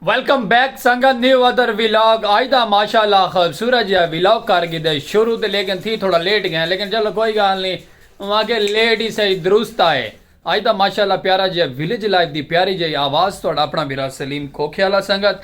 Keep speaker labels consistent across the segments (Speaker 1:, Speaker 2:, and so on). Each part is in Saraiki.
Speaker 1: ویلکم بیک سنگت نیو ادر ویلاگ آج دا ماشاء اللہ خوبصورت جہاں ویلاگ کر گی دے شروع تے لیکن تھی تھوڑا لیٹ گئے لیکن چلو کوئی گال نہیں وہاں کے لیٹ ہی صحیح درست آئے آج دا ماشاء اللہ پیارا جہاں ویلیج لائف دی پیاری جہاں آواز تھوڑا اپنا میرا سلیم کھوکھے اللہ سنگت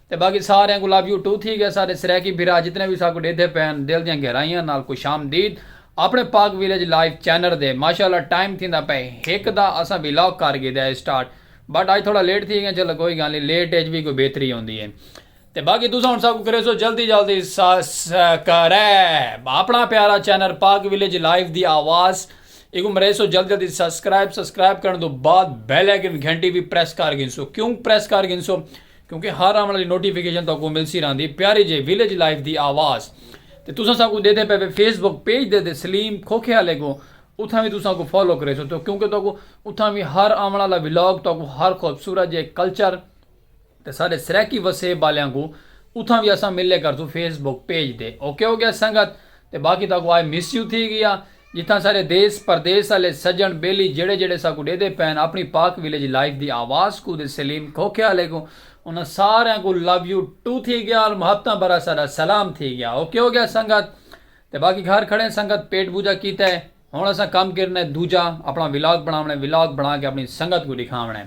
Speaker 1: تے باقی ساریاں کوں لو یو ٹو تھی گئے سارے سرائیکی بھرا جتنے وی ساکوں ڈیدھے پین دل دیاں گہرائیاں نال خوش آمدید اپنے پاک ویلیج لائیو چینر دے ماشاءاللہ ٹائم تھیندا پئے ہک دا اساں ویلاگ کر گھیدا ہے سٹارٹ بٹ اج تھوڑا لیٹ تھی گئے چلو کوئی گال نی لیٹ اچ وی کوئی بہتری ہوندی ہے تے باقی تساں ہن ساکوں کریسو جلدی جلدی سسکرائب اپنا پیارا چینر پاک ویلیج لائیو دی آواز ایکوں مریسو جلدی جلدی سسکرائب سسکرائب کرن دو بعد بیل آئیکن گھنٹی وی پریس کر گھنسو کیوں پریس کر گھنسو کیونکہ ہر آوݨ آلی نوٹیفکیشن تہاکوں ملسی رہندی پیاری جے ویلیج لائف دی آواز تے تساں ساکوں ݙیدھے پئے وے فیس بک پیج دے تے سلیم کھوکھے آلے کوں اتھاں وی تساں کوں فالو کریسوں تو کیونکہ تہاکوں اتھاں وی ہر آوݨ آلا ولاگ تہاکوں ہر خوبصورت جے کلچر تے ساݙے سرائیکی وسیب آلیاں کوں اتھاں وی اساں ملے کرسوں فیس بک پیج تے اوکے ہو گیا سنگت تے باقی تہاکوں آئی مس یو تھی گیا جتھاں سارے دیس پردیس آلے سجݨ ٻیلی جیڑھے جیڑھے ساکوں ݙیہدے پئن اپݨی پاک ولیج لائف دی آواز کوں تے سلیم کھوکھے آلے کوں انہاں ساریاں کوں لو یو ٹو تھی ڳیا اور محبتاں بھرا ساݙا سلام تھی ڳیا اوکے ہو ڳیا سنگت تے باقی گھر کھڑیں سنگت پیٹ بوجھا کیتا ہے ہݨ اساں کم کرݨا ہے دوجھا اپݨا ولاگ بݨاوݨے ولاگ بݨا کے اپݨی سنگت کوں ݙکھاوݨا ہے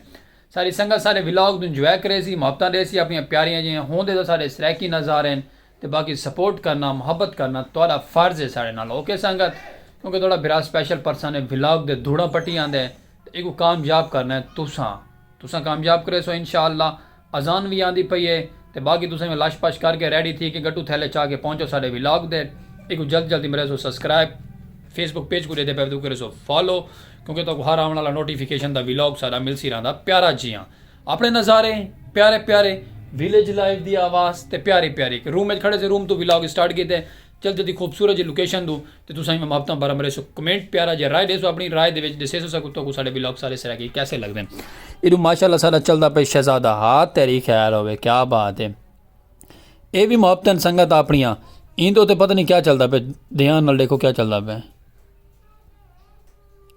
Speaker 1: ساری سنگت سارے ولاگ توں انجوائے کریسی محبتاں ݙیسی اپݨیاں پیاریاں جیہاں ہوندے تاں ساݙے سرائیکی نظارے ہن تے باقی سپورٹ کرنا محبت کرنا تہاڈا فرض ہے ساڈے نال اوکے سنگت کیونکہ تہاڈا بھرا سپیشل پرسن ہے ولاگ دے دھوڑاں پٹی آندے تے ایکوں کامیاب کرنا ہے تساں تساں کامیاب کریسو انشاءاللہ اذان وی آندی پئی ہے تے باقی تساں وی لش پش کر کے ریڈی تھی کے گڈو تھیلے چا کے پہنچو ساڈے ولاگ دے ایکوں جلد جلد مریسو سبسکرائب فیس بک پیج کوں ڈیدے پے ودو کریسو فالو کیونکہ تہاکوں ہر آون والا نوٹیفیکیشن دا ولاگ ساڈا ملسی رہندا پیارا جیاں۔ اپنے نظارے پیارے پیارے ویلیج لائف دی آواز تے پیاری پیاری اک روم وچ کھڑے سے روم توں ولاگ سٹارٹ کیتے چل جدی خوبصورت جی لوکیشن توں تے تساں ہی میں محبتاں بھرم رہے سو کمنٹ پیارا جے رائے دے سو اپنی رائے دے وچ دسے سو سکو تو کو ساڈے ولاگ سارے سرا کی کیسے لگ دے ایڈو ماشاءاللہ سارا چلدا پے شہزادہ ہا تیری خیر ہوے کیا بات ہے اے بھی محبتن سنگت اپنیاں ایندو تے پتہ نہیں کیا چلدا پے دھیان نال دیکھو کیا چلدا پے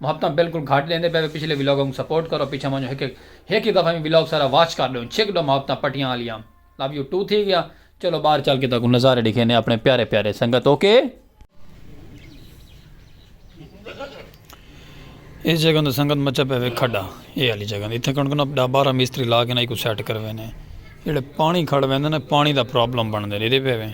Speaker 1: محبتاں بلکل گھٹ ڈیندے پئے وے پچھلے ولاگاں کوں سپورٹ کرو پچھاں ونجو ہک ہک ہک ہک دفعہ وی ولاگ سارا واچ کر ڈیوں چھک ڈو محبتاں پٹیاں آلیاں لو یو ٹو تھی گیا چلو باہر چل کے تہاکوں نظارے ڈکھینے اپنے پیارے پیارے سنگت اوکے اس جگہ تے سنگت مچا پئے وے کھڈا اے والی جگہ تے اتھے کون کون اپ ڈا بارہ مستری لا کے نہ ایکو سیٹ کروینے جیڑے پانی کھڑ ویندے نے پانی دا پرابلم بن دے ریدے پئے وے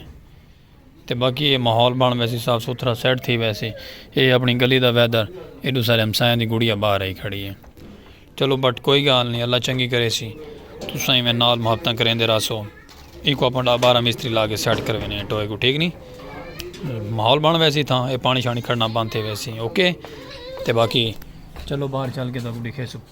Speaker 1: تے باقی اے ماحول بنڑ ویسی صاف ستھرا سیٹ تھی ویسی اے اپنڑی گلی دا ویدر ایڈو سارے ہمسایاں دی گڑیا باہر آئی کھڑی اے چلو بٹ کوئی گال نی اللہ چنگی کریسی تساں ایویں نال محبتاں کریندے رہسو ایکوں اپاں ڈاہ بارہ مستری لا کے سیٹ کروینے اے ٹوئے کوں ٹھیک نی ماحول بنڑ ویسی تھاں اے پانی شانی کھڑنا بند تھی ویسی اوکے تے باقی چلو باہر چل کے تاکوں ڈکھیسوں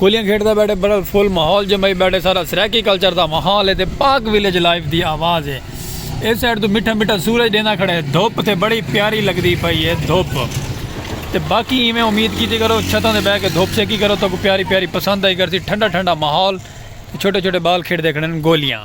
Speaker 1: گولیاں کھیڈ دا بیٹھے برل فل ماحول جمائی بیٹھے سارا سرائیکی کلچر دا ماحول ہے تے پاک ویلیج لائف دی آواز ہے اس سائیڈ تو مٹھا مٹھا سورج ڈینا کھڑا ہے دھوپ تے بڑی پیاری لگدی پئی ہے دھوپ تے باقی ایویں امید کیتی کرو چھتاں دے بہ کے دھوپ سیکی کرو تو کو پیاری پیاری پسند آئی کرسی ٹھنڈا ٹھنڈا ماحول چھوٹے چھوٹے بال کھیڈ دے کھڑے گولیاں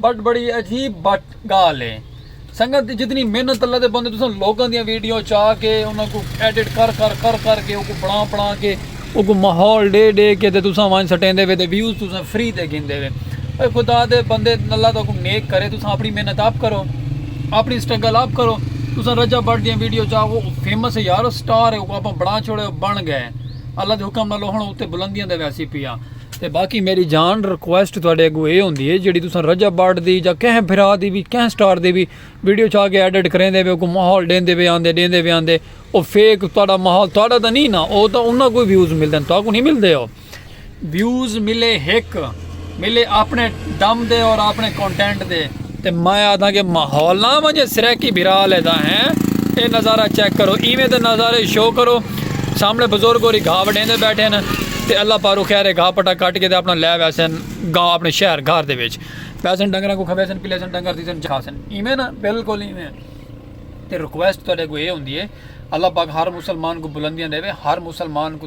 Speaker 1: بٹ بڑی عجیب بٹ گال ہے سنگت جتنی محنت اللہ دے بندے تساں لوگوں دیاں ویڈیو چا کے انہاں کو ایڈٹ کر کر کر کر کے اوکو بنا بنا کے اوکو ماحول ڈے ڈے کے تے تساں وائن سٹیں دے وے تے ویوز تساں فری تے گھن دے وے اے خدا دے بندے اللہ تو کو نیک کرے تساں اپنی محنت آپ کرو اپنی سٹرگل آپ کرو تساں رجا بٹ دیاں ویڈیو چا وہ فیمس ہے یار سٹار ہے اوکو اپاں بنا چھوڑے بن گئے اللہ دے حکم نہ لوہن اوتے بلندیاں دے ویسی پیا تے باقی میڈی جان ریکویسٹ تہاڈے اگو اے ہوندی ہے جیڑی تساں رجب بٹ دی جا کہیں بھرا دی وی کہیں سٹار دی وی ویڈیو چا کے ایڈٹ کریندے وے کو ماحول ڈیندے وے آندے ڈیندے وے آندے او فیک تہاڈا ماحول تہاڈا تاں نی نا او تاں انہاں کو ویوز ملدن تہاکو نی ملدے او ویوز ملے ہک ملے اپنے دم دے اور اپنے کونٹینٹ دے۔ تے میں آدھاں کہ ماحول نہ ونجے سرائیکی بھرا لے دا ہیں اے نظارہ چیک کرو ایویں دے نظارے شو کرو سامنے بزرگ ہوری گھا وڈھیندے بیٹھے نے تے اللہ پارو خیر گھا پٹا کٹ کے تے اپنا لے ویسن گاؤں اپنے شہر گھر دے وچ پیسن ڈنگراں کو کھویسن پلیسن ڈنگر دیسن جاسن ایویں نا بالکل ایویں تے ریکویسٹ تہاڈے کو اے ہوندی ہے اللہ پاک ہر مسلمان کو بلندیاں دے ہر مسلمان کو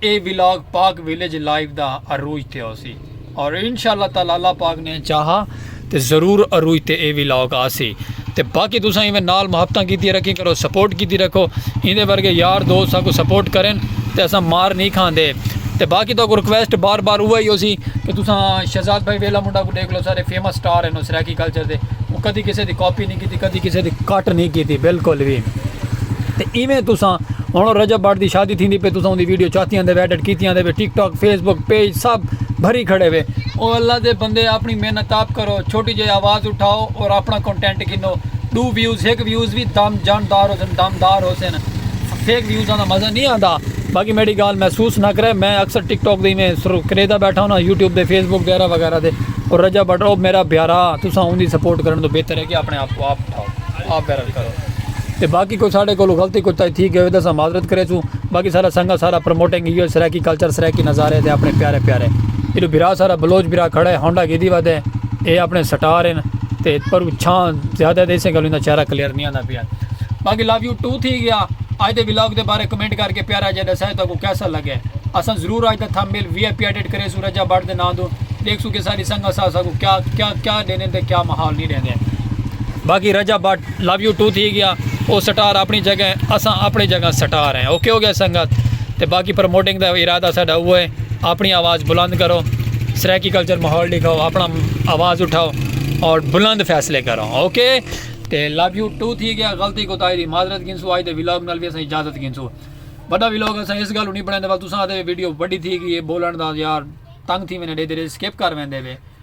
Speaker 1: اے ولاگ پاک ویلیج لائیو دا عروج تے ہوسی اور انشاء اللہ تعالی اللہ پاک نے چاہا تے ضرور عروج تے اے ولاگ آسی تے باقی تساں ایویں نال محبتاں کیتی رکھیں کرو سپورٹ کیتی رکھو ایندے ورگے یار دوست ساکو سپورٹ کرن تے اساں مار نہیں کھاندے تے باقی تو کو ریکویسٹ بار بار اوہ ہی ہوسی کہ تساں شہزاد بھائی ویلا منڈا کو دیکھ لو سارے فیمس سٹار ہیں نو سرائیکی کلچر دے وہ کدی کسے دی کاپی نہیں کیتی کدی کسے دی کٹ نہیں کیتی بالکل بھی تے ایویں تساں ہن رجب بٹ دی شادی تھیندی پئی تساں اوندی ویڈیو چاتی آندے وے ایڈٹ کیتی آندے وے TikTok Facebook page سب بھری کھڑے وے او اللہ دے بندے اپنی محنت آپ کرو چھوٹی جئی آواز اٹھاؤ اور اپنا کنٹینٹ گھنو ڈو ویوز ہک ویوز وی دم جان دار ہوسن دم دار ہوسن فیک ویوزاں دا مزہ نہیں آندا باقی میڈی گال محسوس نہ کرے میں اکثر ٹک ٹاک دے میں سر کریدا بیٹھا ہوں یوٹیوب دے فیس بک وغیرہ وغیرہ دے اور رجا بٹ او میرا پیارا تساں اوندی سپورٹ کرن تو بہتر ہے کہ اپنے آپ کو آپ اٹھاؤ آپ ویرل کرو تے باقی کوئی ساڈے کولوں غلطی کوتاہی تھی گئے ہوے تاں اساں معذرت کریسوں باقی سارا سنگا سارا پروموٹنگ ایہو ہے سرائیکی کلچر سرائیکی نظارے تے اپنے پیارے پیارے ایڈو بھرا سارا بلوچ بھرا کھڑا ہے ہونڈا گیدی ودے اے اپنے سٹار ہن تے پرو چھاں زیادہ دے اسے گلوں دا چہرہ کلیئر نہیں آندا پیا باقی لو یو ٹو تھی گیا اج دے ولاگ دے بارے کمنٹ کر کے پیارا جے دسائے تو کو کیسا لگے اساں ضرور اج دا تھمبیل وی آئی پی ایڈٹ کرے سو رجا بڑ دے نام دو دیکھ سو کہ ساری سنگا سا سا کو کیا کیا کیا دینے تے کیا محال نہیں دینے باقی رجا بڑ لو یو ٹو تھی گیا او سٹار اپنی جگہ ہے اساں اپنی جگہ سٹار ہیں اوکے ہو گیا سنگت تے باقی پروموٹنگ دا ارادہ ساڈا اوہ ہے اپنی آواز بلند کرو سرائیکی کلچر ماحول ڈکھاؤ اپنا آواز اٹھاؤ اور بلند فیصلے کرو اوکے تے لو یو ٹو تھی گیا غلطی کو تائی دی معذرت گھنسو آج دے ولاگ نال بھی اساں اجازت گھنسو بڑا ولاگ اساں اس گالو نہیں بنائیں دے تساں آدھے ویڈیو بڑی تھی گئی ہے بولن دا یار تنگ تھی میں نے دے دے سکپ کر ویندے وے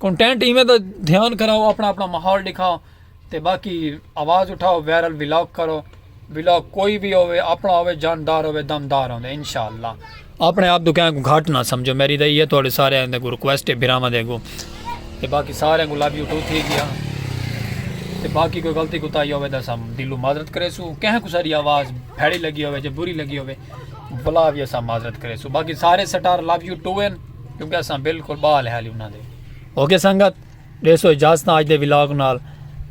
Speaker 1: کنٹینٹ ایویں دا دھیان کراؤ اپنا اپنا ماحول دکھاؤ تے باقی آواز اٹھاؤ ویرل ولاگ کرو ولاگ کوئی بھی ہوئے اپنا ہوئے جاندار ہوئے دمدار ہوئے انشاءاللہ اپنے آپ دکھائیں کو گھاٹ نہ سمجھو میری دائی ہے توڑے سارے آئیں دے کو ریکویسٹ ہے بھراما دے کو تے باقی سارے کو لابی اٹھو تھی گیا تے باقی کوئی غلطی کو تائی ہوئے دا سام دلو مادرت کرے سو کہیں کو ساری آواز بھیڑی لگی ہوئے جب بری لگی ہوئے بلا بھی ایسا مادرت کرے سو باقی سارے سٹار لابی اٹھو ہیں کیونکہ اساں بالکل بال ہے علی انہاں دے اوکے سنگت دے سو اجازت آج دے ولاگ نال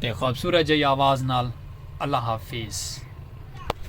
Speaker 1: تے خوبصورت جائی آواز نال اللہ حافظ